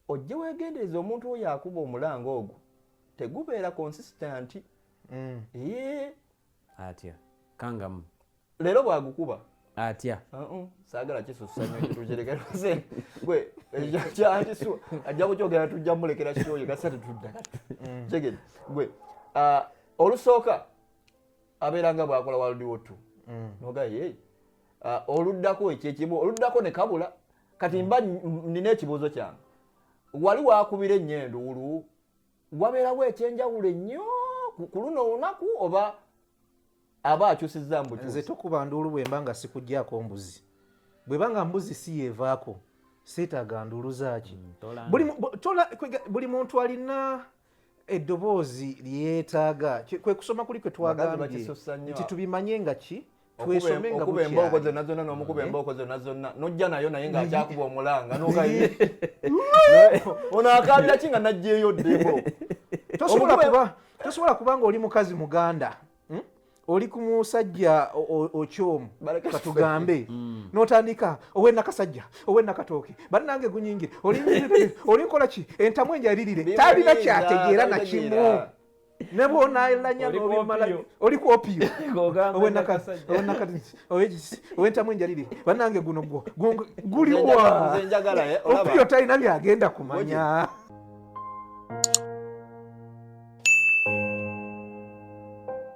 ojje wegendereza omuntu oyo akuba omulanga ogwo tegubeera consistant mm. ee atya kangamu leero bwagukuba atya uh-uh. saagala kisusanyotukirekerose gwe kyankisu ajja kukyogera tujja mulekera kyoyo kasa tetudda mm. kigede gwe uh, olusooka abeera nga bwakola waldiwo t mm. nogaye uh, oluddako ekyekimu oluddako nekabula kati mba nina ekibuuzo kyange wali wakubira ennyo enduulu wabeerawo ekyenjawulo ennyo ku luno olunaku oba aba akyusiza mbukyusi nze tokuba nduulu bwemba nga sikugyako mbuzi bweba nga mbuzi si yevaako seetaaga nduulu zaaki mm, buli muntu alina eddoboozi lyetaaga kwe kusoma kuli kwe twagambye nti tubimanye nga ki twesome nga bukyali embooko zonna zonna n'omukuba eh? embooko zonna zonna n'ojja nayo naye ng'akyakuba omulanga n'okayi ono akaabira ki nga n'ajjeeyo ddeko tosobola kuba tosobola kuba ng'oli mukazi muganda hmm? oli ku musajja okyomu katugambe mm. notandika owe nakasajja owe nakatooke banange gunyingire olinkola ki entamu enjalirire talina kyategeera nakimu nebwonalanya nobimala oli kuopiyo owentamu enjalirire banange guno gwo guliwa eh, opiyo talina byagenda kumanya